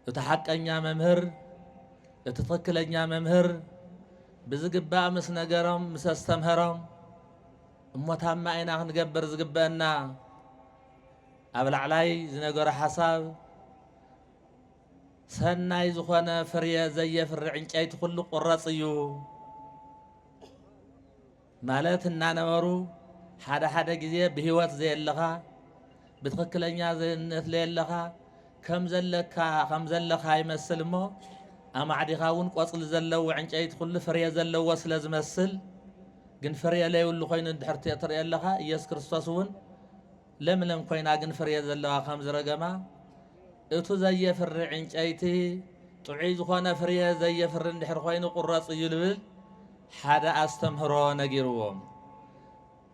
እቲ ሓቀኛ መምህር፣ እቲ ትኽክለኛ መምህር ብዝግባእ ምስ ነገሮም፣ ምስ ኣስተምሀሮም እሞ ታማ ኢና ክንገብር ዝግበአና ኣብ ላዕላይ ዝነገሮ ሓሳብ ሰናይ ዝኾነ ፍርየ ዘየፍሪ ዕንጨይቲ ኩሉ ቁረፅ እዩ። ማለት እናነበሩ ሓደ ሓደ ግዜ ብህይወት ዘየለኻ ብትኽክለኛ ዘነት ለየለኻ ከም ዘለካ ከም ዘለኻ ይመስል እሞ ኣማዕዲኻ እውን ቆፅሊ ዘለዎ ዕንጨይቲ ኩሉ ፍሬ ዘለዎ ስለ ዝመስል ግን ፍሬ ለይብሉ ኮይኑ እንድሕር ትርእዮ ኣለኻ ኢየሱስ ክርስቶስ እውን ለምለም ኮይና ግን ፍሬ ዘለዋ ከም ዝረገማ እቱ ዘየፍሪ ዕንጨይቲ ጥዑይ ዝኾነ ፍርየ ዘየፍሪ እንድሕር ኾይኑ ቁረፁ እዩ ልብል ሓደ ኣስተምህሮ ነጊርዎም።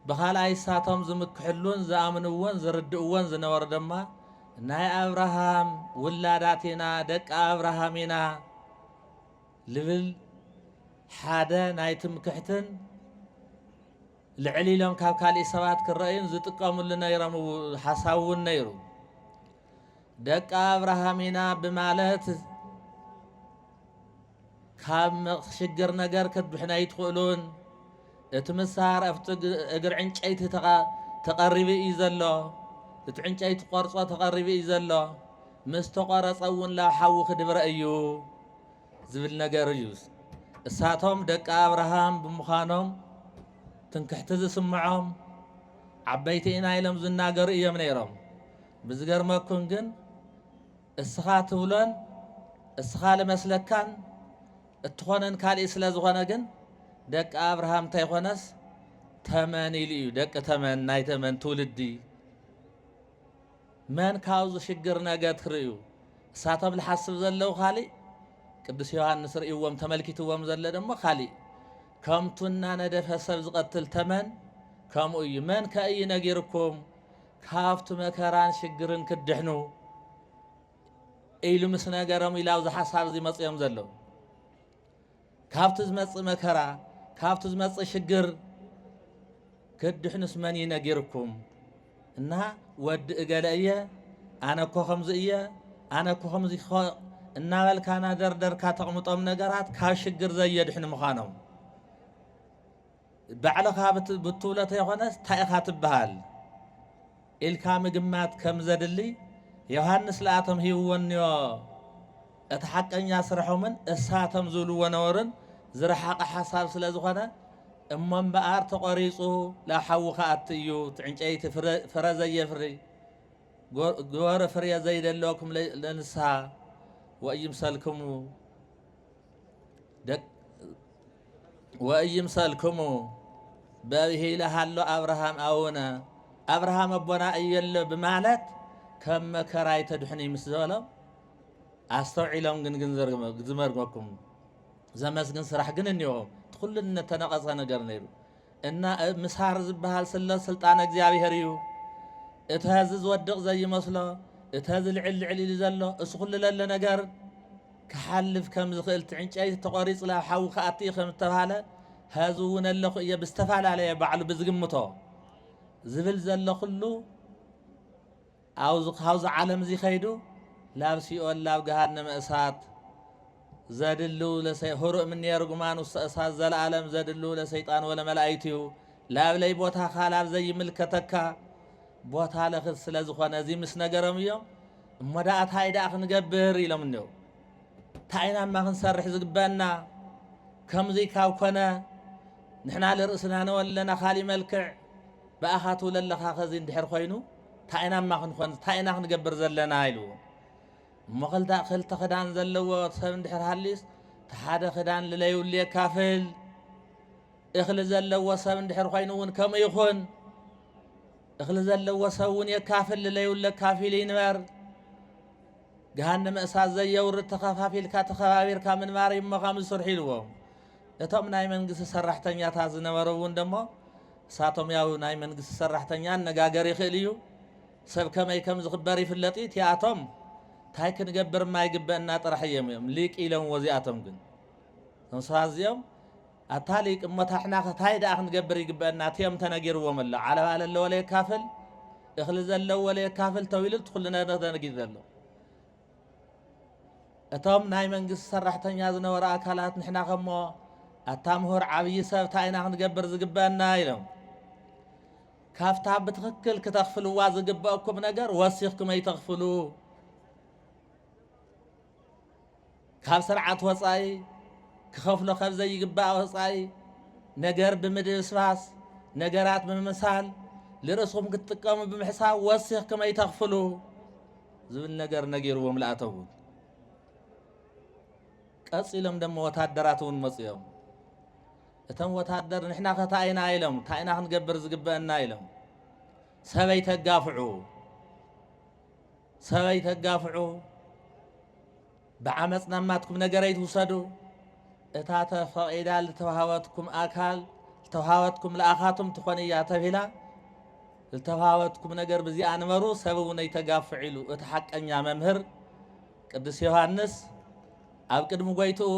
ብኻልኣይ እሳቶም ዝምክሕሉን ዝኣምንዎን ዝርድእዎን ዝነበሩ ድማ ናይ ኣብርሃም ውላዳት ኢና ደቂ ኣብርሃም ኢና ልብል ሓደ ናይ ትምክሕትን ልዕል ኢሎም ካብ ካሊእ ሰባት ክረእዩን ዝጥቀምሉ ነይሮም ሓሳብ እውን ነይሩ። ደቂ ኣብርሃም ኢና ብማለት ካብ ሽግር ነገር ክትድሕኑ ኣይትኽእሉን። እቲ ምሳር ኣብቲ እግሪ ዕንጨይቲ ተቐሪቡ እዩ ዘሎ። እቲ ዕንጨይቲ ቆርጾ ተቐሪቡ እዩ ዘሎ። ምስ ተቖረጸ እውን ላብ ሓዊ ክድብረ እዩ ዝብል ነገር እዩ። እሳቶም ደቂ ኣብርሃም ብምዃኖም ትንክሕቲ ዝስምዖም ዓበይቲ ኢና ኢሎም ዝናገሩ እዮም ነይሮም። ብዝገርመኩም ግን እስኻ ትብሎን እስኻ ልመስለካን እትኾነን ካልእ ስለ ዝኾነ ግን ደቂ ኣብርሃም እንተይኾነስ ተመን ኢሉ እዩ ደቂ ተመን ናይ ተመን ትውልዲ መን ካብዚ ሽግር ነገ ትርእዩ እሳቶም ልሓስብ ዘለዉ ካልእ ቅዱስ ዮሐንስ ርእይዎም ተመልኪትዎም ዘለ ደሞ ካሊእ ከምቱ እናነደፈ ሰብ ዝቐትል ተመን ከምኡ እዩ መን ከእዩ ነጊርኩም ካብቲ መከራን ሽግርን ክትድሕኑ ኢሉ ምስ ነገሮም ኢላው ዝሓሳብ እዚ መፅኦም ዘሎ ካብቲ ዝመፅእ መከራ ካብቲ ዝመፅእ ሽግር ክትድሕኑስ መን እዩ ነጊርኩም እና ወዲ እገለ እየ ኣነ እኮ ከምዚ እየ ኣነ እኮ ከምዚ እኮ እናበልካ ናደርደርካ ተቕምጦም ነገራት ካብ ሽግር ዘየድሕኑ ምዃኖም ባዕልኻ ብትብሎ ተይኮነስ ታይ ኢኻ ትብሃል ኢልካ ምግማት ከም ዘድሊ ዮሃንስ ልኣቶም ሂብዎንዮ እቲ ሓቀኛ ስርሖምን እሳቶም ዝብልዎ ነበሩን ዝረሓቐ ሓሳብ ስለ ዝኾነ እሞ እምበኣር ተቖሪፁ ላብ ሓዊ ክኣቲ እዩ እቲ ዕንጨይቲ ፍረ ዘየፍሪ ግበሩ ፍርየ ዘይደለወኩም ለንስሃ ወእይምሰልክሙ ወኢይምሰልክሙ በብሂለ ሃሎ ኣብርሃም ኣውነ ኣብርሃም ኣቦና እየሎ ብማለት ከም መከራይ ተድሕኒ ምስ ዝበሎም ኣስተውዒሎም ግን ግን ዝመርመኩም ዘመስግን ስራሕ ግን እኒኦ እቲ ኩሉ እነተነቐፀ ነገር ነይሩ እና እብ ምሳር ዝብሃል ስለ ስልጣን እግዚኣብሔር እዩ እተ ህዚ ዝወድቅ ዘይመስሎ እተ ህዚ ልዕል ልዕል ኢሉ ዘሎ እሱ ኩሉ ለለ ነገር ክሓልፍ ከም ዝክእል ትዕንጨይቲ ተቆሪፅ ላብ ሓዊ ክኣቲ እዩ ከም ዝተብሃለ ህዚ እውን ኣለኩ እየ ብዝተፈላለየ ባዕሉ ብዝግምቶ ዝብል ዘሎ ኩሉ ኣብ'ዚ ካብ'ዚ ዓለም'ዚ ከይዱ ላብ ሲኦል ላብ ገሃነመ እሳት ዘድሉ ለሰ ሁርእ ምኔ ርጉማን ውስተ እሳት ዘለዓለም ዘድሉ ለሰይጣን ወለመላኢቲሁ ላብ ለይቦታካ ላብ ዘይምልከተካ ቦታ ለክት ስለ ዝኾነ እዚ ምስ ነገሮም እዮም እሞ ደኣ ታይ ደኣ ክንገብር ኢሎም እኔው ታይ ኢና እማ ክንሰርሕ ዝግበአና ከምዙይ ካብ ኮነ ንሕና ልርእስና ነወለና ካሊእ መልክዕ ብኣኻ ትውለለኻ ከዚ እንድሕር ኮይኑ ታይ ኢና እማ ክንኾን ታይ ኢና ክንገብር ዘለና ኢሉ እሞ ክልተ ክልተ ክዳን ዘለዎ ሰብ እንድሕር ሃልዩስ ተሓደ ክዳን ልለዩሉ የካፍል እኽሊ ዘለዎ ሰብ እንድሕር ኮይኑ እውን ከምኡ ይኹን እኽሊ ዘለዎ ሰብ እውን የካፍል ልለዩሉ ኣካፊሉ ይንበር ገሃነመ እሳት ዘየውርድ ተኸፋፊልካ ተኸባቢርካ ምንባር እዩ እሞ ከም ዝስርሑ ኢልዎም እቶም ናይ መንግስቲ ሰራሕተኛታት ዝነበሩ እውን ደሞ ሳቶም ያው ናይ መንግስቲ ሰራሕተኛ ኣነጋገር ይክእል እዩ ሰብ ከመይ ከም ዝክበር ይፍለጥ እዩ ቲኣቶም ታይ ክንገብር እማ ይግበእና ጥራሕ እዬም እዮም ሊቅ ኢለምዎ እዚኣቶም ግን እቶም ሰባት እዚኦም ኣታ ሊቅ እሞ ታሕና ታይ ደኣ ክንገብር ይግበእና እቲኦም ተነጊርዎም ኣሎ ዓለባ ለለዎ ለየካፍል እክሊ ዘለዎ ለየካፍል ተው ኢሉ እቲ ኩሉ ነገር ተነጊሩ ዘሎ እቶም ናይ መንግስቲ ሰራሕተኛ ዝነበሩ ኣካላት ንሕና ከሞ ኣታ ምሁር ዓብዪ ሰብ እንታይ ኢና ክንገብር ዝግበአና ኢሎም ካብታ ብትኽክል ክተኽፍልዋ ዝግበአኩም ነገር ወሲኽኩም ኣይተኽፍሉ ካብ ስርዓት ወፃኢ ክኸፍሎ ከብ ዘይግባእ ወፃኢ ነገር ብምድብስባስ፣ ነገራት ብምምሳል፣ ልርእስኹም ክትጥቀሙ ብምሕሳብ ወሲኽክም ኣይተኽፍሉ ዝብል ነገር ነጊርዎም ልኣተዉ። ቀፂሎም ደሞ ወታደራት እውን መፅኦም። እቶም ወታደር ንሕና ከ እንታይ ኢና ኢሎም እንታይ ኢና ክንገብር ዝግበአና ኢሎም ሰበይ ተጋፍዑ ሰብ ኣይተጋፍዑ፣ ብዓመጽ ናብ ናትኩም ነገር ኣይትውሰዱ፣ እታ ተፈቒዳ ልተውሃበትኩም ኣካል ልተውሃበትኩም ልኣኻትም ትኾን እያ ተብሂላ፣ ልተውሃበትኩም ነገር ብዚኣ ንበሩ፣ ሰብ እውን ኣይተጋፍዑ ኢሉ እቲ ሓቀኛ መምህር ቅዱስ ዮሃንስ ኣብ ቅድሚ ጎይትኡ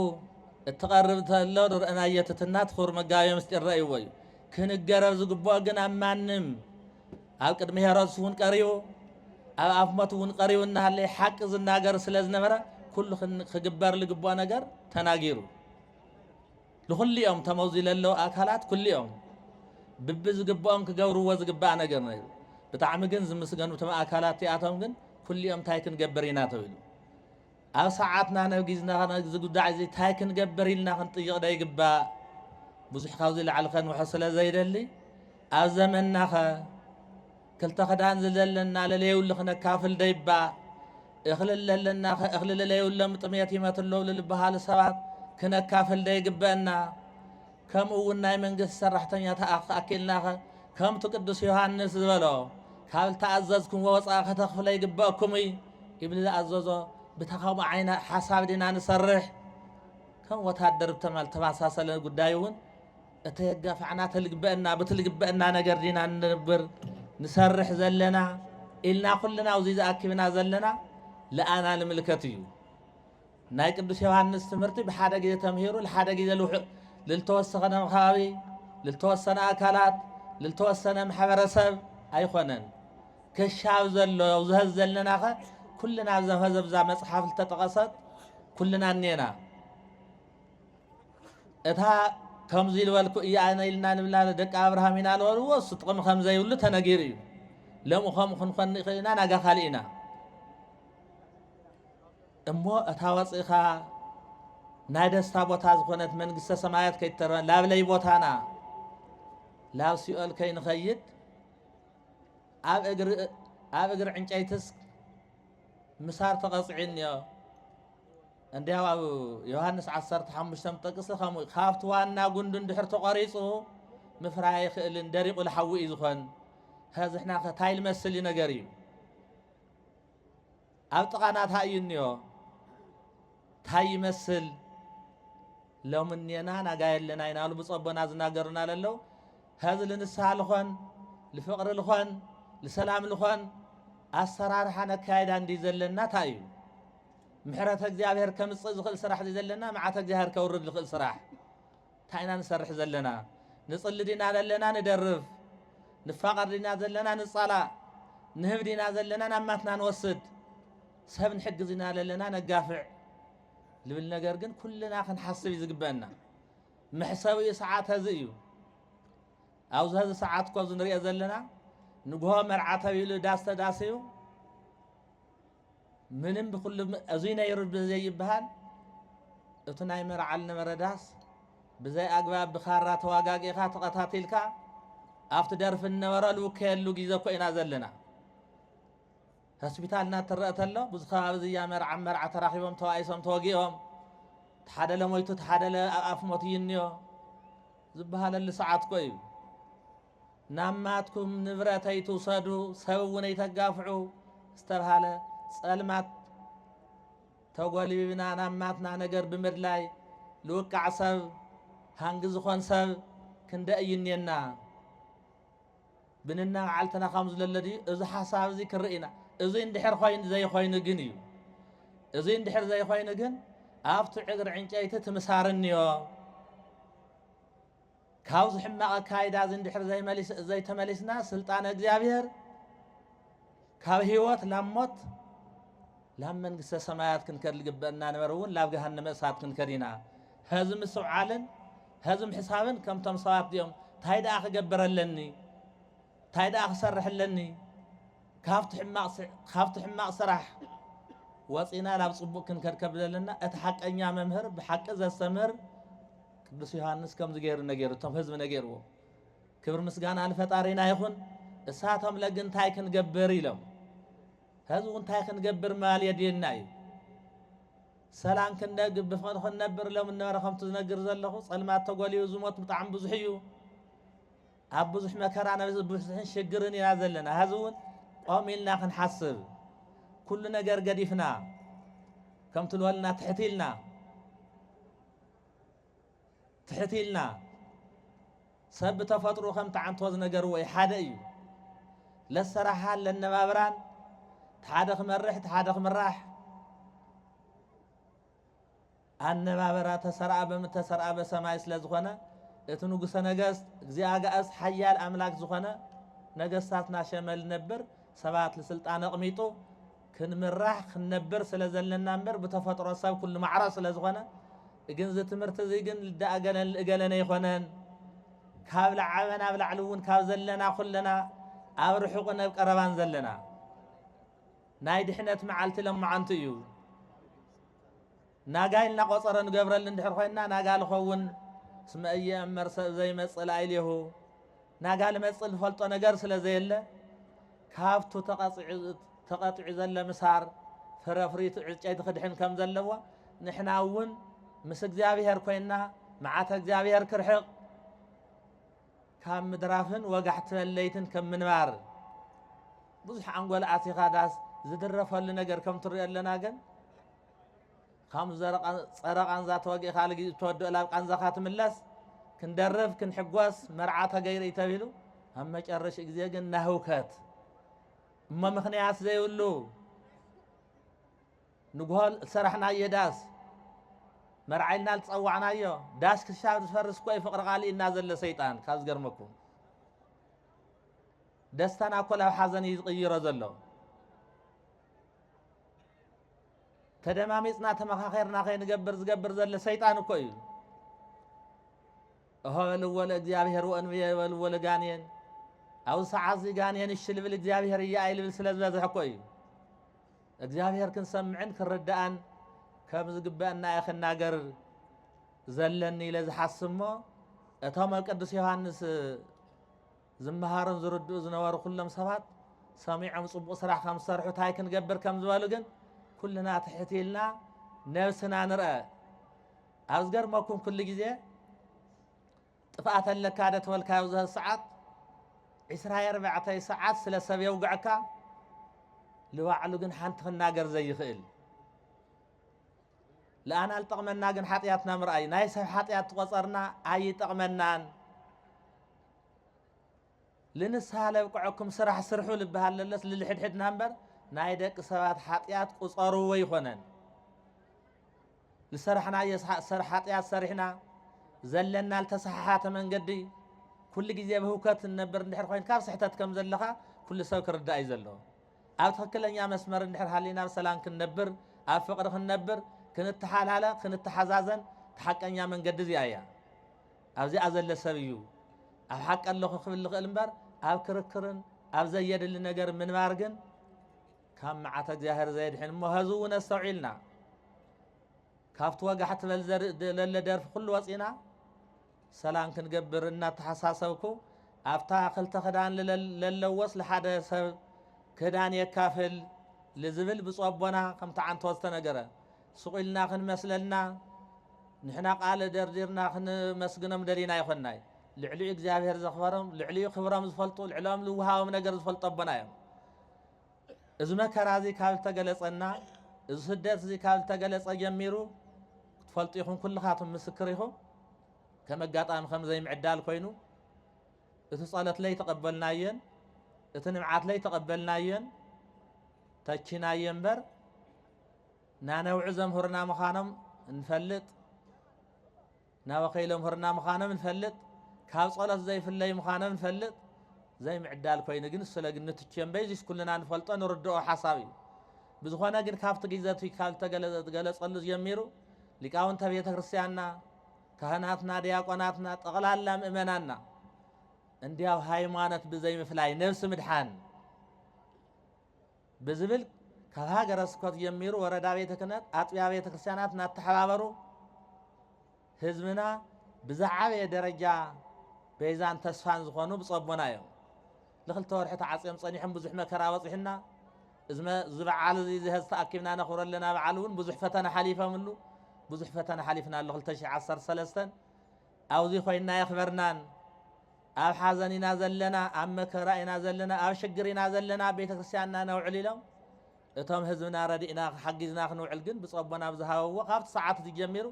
እትቐርብ ተሎ ንርእናዮ ትትና እቲ ክቡር መጋቤ ምስጢር ረእይዎ እዩ። ክንገረር ዝግብኦ ግን ኣብ ማንም ኣብ ቅድሚ ሄሮድስ እውን ቀሪቡ ኣብ ኣፍ ሞት እውን ቀሪቡ እናሃለየ ሓቂ ዝናገር ስለ ዝነበረ ኩሉ ክግበር ዝግብኦ ነገር ተናጊሩ ንኩልኦም ተመዚ ለለዉ ኣካላት ኩልኦም ብቢ ዝግብኦም ክገብርዎ ዝግባእ ነገር ነይሩ ብጣዕሚ ግን ዝምስገኑ እቶም ኣካላት እቲኣቶም ግን ኩልኦም እንታይ ክንገብር ኢና ተብሉ ኣብ ሰዓትና ነጊዝና ነዚ ጉዳይ እዚ ታይ ክንገብር ኢልና ክንጥይቕ ዶ ይግባእ? ብዙሕ ካብዚ ላዕሊ ከንውሖ ስለ ዘይደሊ ኣብ ዘመንናኸ ክልተ ክዳን ዝለለና ለለዩሉ ክነካፍል ዶ ይባእ? እኽሊ ለለናኸ እኽሊ ለለዩሎም ጥሜት ይመትሎም ልልበሃሉ ሰባት ክነካፍል ዶ ይግበእና? ከምኡ እውን ናይ መንግስቲ ሰራሕተኛታኣ ክኣኪልናኸ ከምቱ ቅዱስ ዮሃንስ ዝበሎ ካብ ልተኣዘዝኩምዎ ወፃኢ ከተኽፍለ ይግበእኩም እዩ ይብሊ ዝኣዘዞ ብታ ከምኡ ዓይነ ሓሳብ ዲና ንሰርሕ ከም ወታደር ብተማል ተመሳሰለ ጉዳይ እውን እተየጋፋዕና ተልግበአና ብትልግበአና ነገር ዲና ንንብር ንሰርሕ ዘለና ኢልና ኩልና ኣብዚ ዝኣኪብና ዘለና ለኣና ንምልከት እዩ ናይ ቅዱስ ዮሃንስ ትምህርቲ ብሓደ ግዜ ተምሂሩ ልሓደ ግዜ ልውሕእ ልልተወሰኸ ነም ኸባቢ ልልተወሰነ ኣካላት ልልተወሰነ ማሕበረሰብ ኣይኾነን ከሻብ ዘሎ ዝሀዝ ዘለናኸ ኩልና ኣብዛ ሀዘብዛ መፅሓፍ ልተጠቐሰት ኩልና እኔና እታ ከምዚ ልበልኩ እያ ኣነ ኢልና ንብላ ደቂ ኣብርሃም ኢና ንበልዎ እሱ ጥቕሚ ከም ዘይብሉ ተነጊሩ እዩ ለምኡ ከምኡ ክንኮን ንኽእል ኢና ናጋ ካልእ ኢና እሞ እታ ወጽእካ ናይ ደስታ ቦታ ዝኾነት መንግስተ ሰማያት ከይትተርፈና ላብ ለይቦታና ላብ ሲኦል ከይንኸይድ ኣብ እግሪ ኣብ እግሪ ዕንጨይትስ ምሳር ተቐጽዒኒዮ እንዲያው ኣብ ዮሃንስ 15 ጥቅሲ ከምኡ እዩ ካብቲ ዋና ጉንዱ እንድሕር ተቖሪፁ ምፍራይ ኣይኽእልን ደሪቑ ልሓዊ እዩ ዝኾን ከዝሕና ከታይ ልመስል እዩ ነገር እዩ ኣብ ጥቓና ታይ እዩ እንዮ ታይ ይመስል ሎሚ እኔና ናጋ የለና ይናሉ ብጸቦና ዝናገሩና ለለው ሀዚ ልንስሃ ልኾን ልፍቕሪ ልኾን ልሰላም ልኾን ኣሰራርሓ ነካየዳ እንዲ ዘለና ታይ እዩ ምሕረተ እግዚኣብሔር ከምጽእ ዝኽእል ስራሕ ዘለና መዓተ እግዚኣብሔር ከውርድ ልኽእል ስራሕ ታይ ኢና ንሰርሕ ዘለና ንጽሊ ዲና ዘለና ንደርፍ ንፋቀር ዲና ዘለና ንጻላእ ንህብ ዲና ዘለና ናብ ማትና ንወስድ ሰብ ንሕግዝ ኢና ዘለና ነጋፍዕ ልብል ነገር ግን ኩልና ክንሓስብ እዩ ዝግበአና መሕሰቢኡ ሰዓት እዚ እዩ ኣብዚ ሀዚ ሰዓት ኮ እዚ ንሪኦ ዘለና ንግሆ መርዓ ተብሂሉ ዳስ ተዳስዩ ምንም ብኩሉ እዙይ ነይሩ ብዘይበሃል እቲ ናይ መርዓል ነበረ ዳስ ብዘይ ኣግባብ ብካራ ተዋጋጊእኻ ተቐታቲልካ ኣብቲ ደርፊ እነበረ ልውከየሉ ግዜ እኮ ኢና ዘለና ሆስፒታልና ትረአ ተሎ ብዙ ከባቢ ዝያ መርዓ መርዓ ተራኺቦም ተዋኢሶም ተወጊኦም ተሓደለ ሞይቱ ተሓደለ ኣብ ኣፍ ሞት ይንዮ ዝበሃለሉ ሰዓት እኮ እዩ ናብ ናትኩም ንብረት ኣይትውሰዱ፣ ሰብ እውን ኣይተጋፍዑ ዝተብሃለ ጸልማት ተጎልቢብና ናብ ናትና ነገር ብምድላይ ልውቃዕ ሰብ ሃንጊ ዝኾን ሰብ ክንደ እዩ እኔና ብንና መዓልትና ከም ዝለለ ድዩ እዚ ሓሳብ እዚ ክርእና እዚ እንድሕር ኮይኑ ዘይኮይኑ ግን እዩ እዚ እንድሕር ዘይኮይኑ ግን ኣብቲ ዕግሪ ዕንጨይቲ ትምሳርንዮ ካብዚ ሕማቕ ኣካይዳ እዚ እንድሕር ዘይተመሊስና ስልጣነ እግዚኣብሔር ካብ ህይወት ላብ ሞት ላብ መንግስተ ሰማያት ክንከድ ዝግበእና ነበር እውን ላብ ገሃነመ እሳት ክንከድ ኢና ህዚ ምስትውዓልን ህዚ ምሕሳብን ከምቶም ሰባት እዚኦም እንታይ ደኣ ክገብር ኣለኒ እንታይ ደኣ ክሰርሕ ኣለኒ ካብቲ ሕማቕ ስራሕ ወፂእና ናብ ፅቡቕ ክንከድ ከም ዘለና እቲ ሓቀኛ መምህር ብሓቂ ዘስተምህር ቅዱስ ዮሃንስ ከምዚ ገይሩ ነገሩ እቶም ህዝቢ ነገርዎ ክብሪ ምስጋና ንፈጣሪና ይኹን እሳቶም ለግ እንታይ ክንገብር ኢሎም ህዝቡ እንታይ ክንገብር ማል የድልየና እዩ ሰላም ክንደግ ብፍቕሪ ክንነብር ኢሎም እነበረ ከምቲ ዝነግር ዘለኹ ፀልማት ተጎልዩ ዝሞት ብጣዕሚ ብዙሕ እዩ ኣብ ብዙሕ መከራ ነዚ ብፍትሕን ሽግርን ኢና ዘለና ሀዚ እውን ቆም ኢልና ክንሓስብ ኩሉ ነገር ገዲፍና ከምቲ ልበልና ትሕት ኢልና ትሕት ኢልና ሰብ ብተፈጥሮ ከም ተዓንቶ ዝነገርዎ እዩ ሓደ እዩ ለሰራሓን ለነባብራን ሓደ ክመርሕ ሓደ ክምራሕ ኣነባበራ ተሠርኣ በምተሠርኣ በሰማይ ስለ ዝኾነ እቲ ንጉሠ ነገሥት እግዚእ ኣጋእዝት ሓያል ኣምላክ ዝኾነ ነገሥታት ናሸመ ልነብር ሰባት ልሥልጣን ኣቕሚጡ ክንምራሕ ክንነብር ስለ ዘለና እምበር ብተፈጥሮ ሰብ ኩሉ ማዕረ ስለ ዝኾነ ግን እዚ ትምህርቲ እዚ ግን ልዳ እገለን ልእገለን ኣይኮነን ካብ ላዓበ ናብ ላዕሊ እውን ካብ ዘለና ኩለና ኣብ ርሑቕ ነብ ቀረባን ዘለና ናይ ድሕነት መዓልቲ ለማዓንቲ እዩ ናጋይ እናቆጸረ ንገብረሉ እንድሕር ኮይና ናጋ ልኸውን እስመ እየእመር ሰብ ዘይመጽእ ላዕሌሁ ናጋ ልመጽእ ልፈልጦ ነገር ስለ ዘየለ ካብቱ ተቐጢዑ ዘለ ምሳር ፍረፍሪቱ ዕጨይቲ ክድሕን ከም ዘለዎ ንሕና እውን ምስ እግዚኣብሔር ኮይና መዓተ እግዚኣብሔር ክርሕቕ ካብ ምድራፍን ወጋሕቲ መለይትን ከም ምንባር ብዙሕ ኣንጎል ኣቲኻ ዳስ ዝድረፈሉ ነገር ከም ትሪኦ ኣለና ግን ከም ጸረ ቃንዛ ተወጊእካ ልጊ እተወድኦ ላብ ቃንዛኻ ትምለስ ክንደርፍ ክንሕጎስ መርዓ ተገይሩ ተብሂሉ ኣብ መጨረሽ ግዜ ግን ናህውከት እሞ ምክንያት ዘይብሉ ንጉሆ ዝሰራሕናዮ ዳስ መርዓይልና ዝፀዋዕናዮ ዳስ ክሻብ ዝፈርስ ኮይ ፍቅሪ ቃልኢና ዘሎ ሰይጣን ካብ ዝገርመኩም ደስታና ኮ ናብ ሓዘን እዩ ዝቕይሮ ዘሎ ተደማሚጽና ተመኻኼርና ከይንገብር ዝገብር ዘለ ሰይጣን እኮ እዩ እሆ በልዎ ለእግዚኣብሔር ወእንብየ በልዎ ለጋንየን ኣብዚ ሰዓት እዚ ጋንየን እሺ ልብል እግዚኣብሔር እያ ኣይልብል ስለ ዝበዝሐ እኮ እዩ እግዚኣብሔር ክንሰምዕን ክንርዳእን ከም ዝግበአና እየ ክናገር ዘለኒ ኢለ ዝሓስብ እሞ እቶም ኣብ ቅዱስ ዮሃንስ ዝመሃሩን ዝርድኡ ዝነበሩ ኩሎም ሰባት ሰሚዖም ጽቡቕ ስራሕ ከም ዝሰርሑ እንታይ ክንገብር ከም ዝበሉ ግን ኩልና ትሕት ኢልና ነብስና ንርአ ኣብ ዝገርመኩም ኩሉ ግዜ ጥፍኣት ኣለካ ደ ተበልካ ኣብዚ ሰዓት ዕስራ ኣርባዕተ ሰዓት ስለ ሰብ የውግዐካ ንባዕሉ ግን ሓንቲ ክናገር ዘይኽእል ለኣና ልጠቕመና ግን ሓጢኣትና ምርኣይ ናይ ሰብ ሓጢኣት ትቆፀርና ኣይጠቕመናን ልንስሃ ለብቅዐኩም ስራሕ ስርሑ ልበሃል ለለስ ልልሕድሕድና እምበር ናይ ደቂ ሰባት ሓጢኣት ቁፀርዎ ይኾነን ልሰራሕናዮ ሓጢኣት ሰሪሕና ዘለና ልተሰሓሓተ መንገዲ ኩሉ ግዜ ብህውከት እነብር እንድሕር ኮይንካ ኣብ ስሕተት ከም ዘለኻ ኩሉ ሰብ ክርዳእ እዩ ዘለዎ ኣብ ትኽክለኛ መስመር እንድሕር ሃሊና ኣብ ሰላም ክንነብር ኣብ ፍቕሪ ክንነብር ክንተሓላለ ክንተሓዛዘን ተሓቀኛ መንገዲ እዚኣ እያ ኣብዚኣ ዘሎ ሰብ እዩ ኣብ ሓቂ ኣለኹ ክብል ዝኽእል እምበር ኣብ ክርክርን ኣብ ዘየድሊ ነገር ምንባር ግን ካብ መዓተ እግዚኣብሔር ዘየድሕን እሞ ሀዚ እውን ኣስተውዒልና ካብቲ ወጋሕ ትበል ዘለ ደርፊ ኩሉ ወፂና ሰላም ክንገብር እናተሓሳሰብኩ ኣብታ ክልተ ክዳን ለለዎስ ለሓደ ሰብ ክዳን የካፍል ልዝብል ብፁዕ ኣቦና ከምቲ ዓንቶ ዝተነገረ ሱቕ ኢልና ክንመስለና ንሕና ቃል ደርዲርና ክንመስግኖም ደሊና ኣይኮናይ ልዕሊኡ እግዚኣብሔር ዘኽበሮም ልዕሊኡ ክብሮም ዝፈልጡ ልዕሎም ልውሃቦም ነገር ዝፈልጡ ኣቦና እዮም እዚ መከራ እዚ ካብ ዝተገለጸና እዚ ስደት እዚ ካብ ዝተገለጸ ጀሚሩ ክትፈልጡ ይኹም ኩልኻትም ምስክር ይኹም ከም ኣጋጣሚ ከም ዘይምዕዳል ኮይኑ እቲ ጸሎት ለይ ተቐበልናየን እቲ ንብዓት ለይ ተቐበልናየን ተቺናየ እምበር ናነብዑ ዘምህሩና ምዃኖም ንፈልጥ ናበኸይ ዘምህሩና ምዃኖም ንፈልጥ ካብ ጸሎት ዘይፍለዩ ምዃኖም ንፈልጥ ዘይምዕዳል ኮይኑ ግን ስለ ግን ንትቼ እምበይ እዚስ ኩልና ንፈልጦ ንርድኦ ሓሳብ እዩ ብዝኾነ ግን ካብቲ ግዜ እቲ ካብ ዝተገለጸሉ ጀሚሩ ሊቃውንተ ቤተ ክርስቲያንና ካህናትና ዲያቆናትና ጠቕላላ ምእመናና እንዲያው ሃይማኖት ብዘይምፍላይ ነብሲ ምድሓን ብዝብል ካብ ሃገረ ስብከቱ ጀሚሩ ወረዳ ቤተ ክህነት ኣጥቢያ ቤተ ክርስቲያናት እናተሓባበሩ ህዝብና ብዝዓበየ ደረጃ ቤዛን ተስፋን ዝኾኑ ብፀቦና እዮም ንክልተ ወርሒ ተዓፅዮም ፀኒሖም ብዙሕ መከራ በፂሑና እዚ በዓል እዚ ዝሀዝ ተኣኪብና ነኽብሮ ኣለና በዓል እውን ብዙሕ ፈተና ሓሊፈምሉ ብዙሕ ፈተና ሓሊፍና ኣሎ 213 ኣብዙይ ኮይንና የኽበርናን ኣብ ሓዘን ኢና ዘለና ኣብ መከራ ኢና ዘለና ኣብ ሽግር ኢና ዘለና ኣብ ቤተ ክርስቲያንና ነውዕል ኢሎም እቶም ህዝብና ረዲእና ሓጊዝና ክንውዕል ግን ብፀቦና ኣብ ዝሃበዎ ካብቲ ሰዓት እዚ ጀሚሩ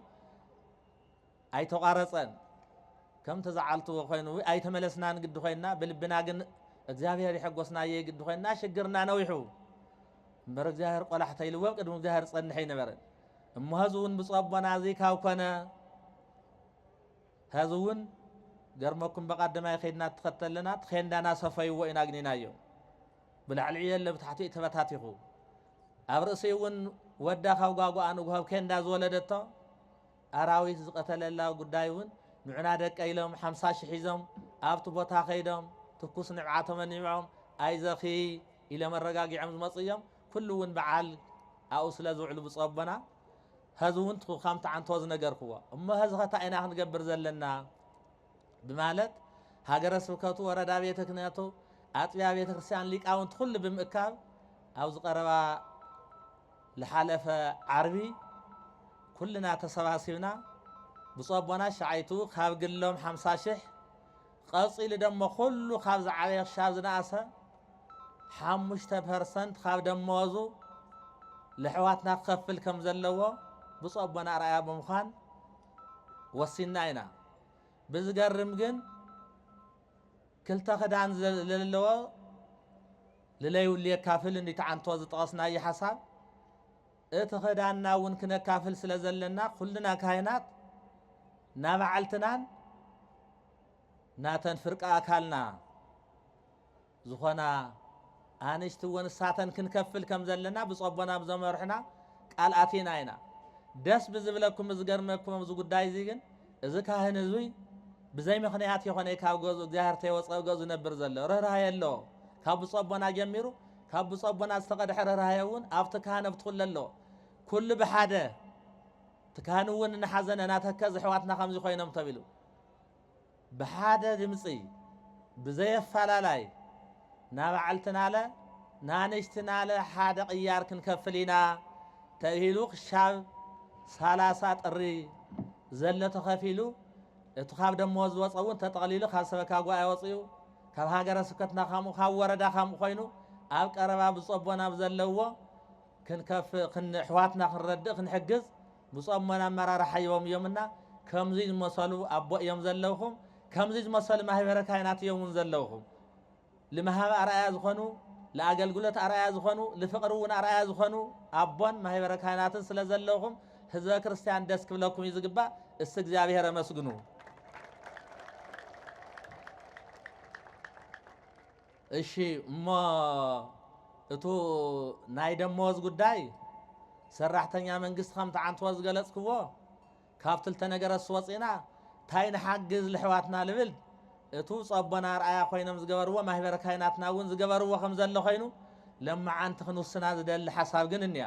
ኣይተቋረፀን ከም ተዛዓልትዎ ኮይኑ ኣይተመለስናን ግዲ ኮይንና ብልብና ግን እግዚኣብሔር ይሐጎስና እየ ግዲ ኮይንና ሽግርና ነዊሑ እምበር እግዚኣብሔር ቆላሕተ ኢልዎም ቅድሚ እግዚኣብሔር ፀንሐ ይነበረ እሞ ሀዚ እውን ብፁዕ ኣቦና እዙይ ካብ ኮነ ሀዚ እውን ገርመኩም በቃደማይ ከይድና ትኸተለና ትኼንዳና ሰፈይዎ ኢና ግኒናዮ ብላዕሊዑ የለ ብታሕቲኡ ተበታቲኹ ኣብ ርእሲ እውን ወዳ ካብ ጓጓኣ ንጉሆብ ኬንዳ ዝወለደቶ ኣራዊት ዝቐተለላ ጉዳይ እውን ንዑና ደቀ ኢሎም ሓምሳ ሽሕ ሒዞም ኣብቲ ቦታ ከይዶም ትኩስ ንብዓቶም ኣኒብዖም ኣይዘኺ ኢሎም ኣረጋጊዖም ዝመፁ እዮም ኩሉ ውን ብዓል ኣብኡ ስለ ዝውዕሉ ብጹእ ኣቦና ሀዚ ውን ትኩካ ምትዓንቶ ዝነገርክዎ እሞ ሀዚኸ ታይ ኢና ክንገብር ዘለና ብማለት ሃገረ ስብከቱ ወረዳ ቤተ ክነቱ ኣጥቢያ ቤተ ክርስቲያን ሊቃውንቲ ኩሉ ብምእካብ ኣብ ዝቀረባ ልሓለፈ ዓርቢ ኩልና ተሰባሲብና ብፁዕ ኣቦና ሸዓይቱ ካብ ግሎም ሓምሳ ሽሕ ቐጺሉ ደሞ ኩሉ ካብ ዝዓበየ ክሻብ ዝነኣሰ ሓሙሽተ ፐርሰንት ካብ ደመወዙ ለሕዋትና ክኸፍል ከም ዘለዎ ብፁዕ ኣቦና ኣርኣያ ብምዃን ወሲንና ኢና። ብዝገርም ግን ክልተ ክዳን ለለዎ ልለይብሉ የካፍል እንዲተዓንቶ ዝጠቐስናዮ ሓሳብ እቲ ኸዳንና እውን ክነካፍል ስለ ዘለና ኩልና ካህናት ናባዕልትናን ናተን ፍርቂ ኣካልና ዝኾና ኣንሽቲ እውን እሳተን ክንከፍል ከም ዘለና ብፁዕ ኣቦና ብዘመርሑና ቃል ኣቲና ኢና ደስ ብዝብለኩም ዝገርመኩም ኣብዚ ጉዳይ እዚ ግን እዚ ካህን እዙይ ብዘይ ምክንያት የኾነ ካብ ገዙ እግዚኣብሔር ተይወፀ ገዙ ነብር ዘሎ ርኅራኄ ኣለዎ ካብ ብፁዕ ኣቦና ጀሚሩ ካብ ብፁዕ ኣቦና ዝተቐድሐ ርኅራኄ እውን ኣብቲ ካህን ኣብቲ ኩለ ኣሎ ኩሉ ብሓደ እቲ ካህን እውን እናሓዘነ ናተከዝ ኣሕዋትና ከምዚ ኮይኖም ተቢሉ ብሓደ ድምፂ ብዘየፈላላይ ናባዕልትናለ ናንሽትናለ ሓደ ቅያር ክንከፍል ኢና ተብሂሉ ክሻብ ሰላሳ ጥሪ ዘሎ ተኸፊሉ እቲ ካብ ደመወዝ ዝወፀ እውን ተጠቕሊሉ ካብ ሰበካ ጉባኤ ወፅኡ ካብ ሃገረ ስብከትና ከምኡ ካብ ወረዳ ከምኡ ኮይኑ ኣብ ቀረባ ብፁዕ ኣቦና ኣብ ዘለዎ ክንከፍ ኣሕዋትና ክንረድእ ክንሕግዝ ብፁዕ ኣቦና ኣመራርሓ እዮም እዮምና ከምዙይ ዝመሰሉ ኣቦ እዮም ዘለውኹም ከምዙይ ዝመሰሉ ማህበረ ካህናት እዮም እውን ዘለውኹም ልመሃብ ኣርኣያ ዝኾኑ ለኣገልግሎት ኣርኣያ ዝኾኑ ልፍቕሪ እውን ኣርኣያ ዝኾኑ ኣቦን ማህበረ ካህናትን ስለ ዘለውኹም ህዝበ ክርስቲያን ደስ ክብለኩም እዩ ዝግባእ። እስ እግዚኣብሔር ኣመስግኑ። እሺ እሞ እቱ ናይ ደመወዝ ጉዳይ ሰራሕተኛ መንግስቲ ከም ትዓንትዎ ዝገለጽክዎ ካብ ትልተ ነገረስ ወፂና እንታይ ንሓግዝ ልሕዋትና ልብል እቱ ጸቦና ኣርኣያ ኮይኖም ዝገበርዎ ማህበረ ካይናትና እውን ዝገበርዎ ከም ዘሎ ኮይኑ ለመዓንቲ ክንውስና ዝደሊ ሓሳብ ግን እኒያ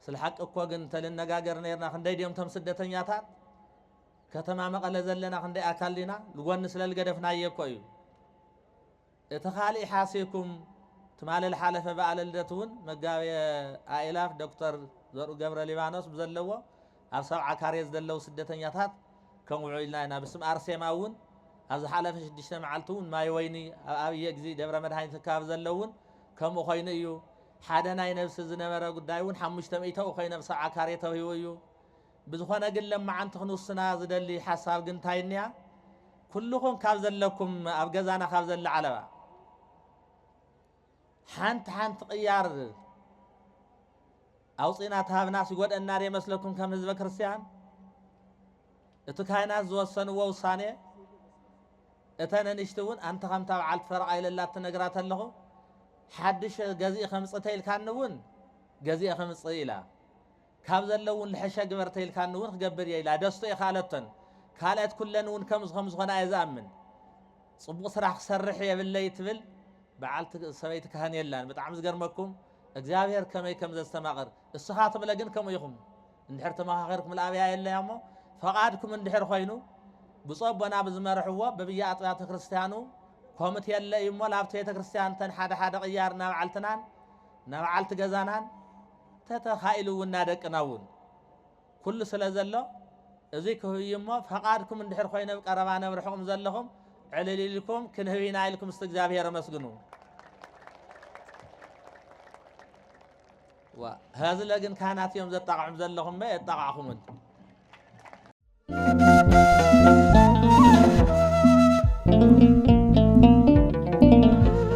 ስለ ሓቂ እኮ ግን ተልነጋገር ነርና ክንደይ ድዮም ቶም ስደተኛታት ከተማ መቐለ ዘለና ክንደይ ኣካል ዲና ንጎኒ ስለ ልገደፍናየ እኮ እዩ እቲ ካልእ ሓሲኩም ትማሊ ልሓለፈ በዓለ ልደት እውን መጋቤ ኣእላፍ ዶክተር ዘርኡ ገብረ ሊባኖስ ብዘለዎ ኣብ ሰብዓ ካሬ ዝደለዉ ስደተኛታት ከንውዑ ኢልና ኢና ብስም ኣርሴማ እውን ኣብ ዝሓለፈ ሽዱሽተ መዓልቲ እውን ማይ ወይኒ ኣብ ኣብየ ግዚ ደብረ መድሃኒት ኣከባቢ ዘለ እውን ከምኡ ኮይኑ እዩ ሓደ ናይ ነብሲ ዝነበረ ጉዳይ እውን ሓሙሽተ ሚእተኡ ኮይኑ ኣብ ሰብዓ ካሬ ተውሂቡ እዩ ብዝኾነ ግን ለማዓንቲ ክንውስና ዝደሊ ሓሳብ ግን እንታይ እንያ ኩልኹም ካብ ዘለኩም ኣብ ገዛና ካብ ዘለ ዓለባ ሓንቲ ሓንቲ ቅያር ኣውጺእና ተሃብናስ ይጎድኣና ድየ መስለኩም ከም ህዝበ ክርስትያን እቲ ካህናት ዝወሰንዎ ውሳኔ እተ ነንሽቲ እውን ኣንተ ከምታ በዓልቲ ፈረቓ ኢለላ ትነግራ ተለኹ ሓድሽ ገዚእ ከምጽእ ተኢልካኒ እውን ገዚኤ ከምጽእ ኢላ ካብ ዘለ እውን ልሐሸ ግበር ተኢልካኒ እውን ክገብር እየ ኢላ ደስቶ የካለቶን ካልኦት ኩለን እውን ከምዚ ከም ዝኾና እየ ዝኣምን ጽቡቕ ስራሕ ክሰርሕ የብለይ ትብል በዓልቲ ሰበይቲ ካህን የላን ብጣዕሚ ዝገርመኩም እግዚኣብሔር ከመይ ከም ዘስተማቕር እስኻ ትብለ ግን ከምኡ ኢኹም እንድሕር ተመኻኺርኩም ልኣብያ የለያ እሞ ፈቓድኩም እንድሕር ኮይኑ ብፁዕ ኣቦና ብዝመርሕዎ በብያ ኣጥቢያተ ክርስቲያኑ ኮምት የለ እዩ እሞ ላብቲ ቤተ ክርስቲያን ተን ሓደ ሓደ ቅያር ናብዓልትናን ናብዓልቲ ገዛናን ተተኻኢሉ እውን ናደቅና እውን ኩሉ ስለ ዘሎ እዙይ ክህብ እዩ እሞ ፈቓድኩም እንድሕር ኮይነ ብ ቀረባ ነብ ርሕቕም ዘለኹም ዕልል ኢልኩም ክንህብ ኢና ኢልኩም ስቲ እግዚኣብሔር ኣመስግኑ። ሀዝለ ግን ካህናት እዮም ዘጣቕዑም ዘለኹም መ የጣቕዕኹምን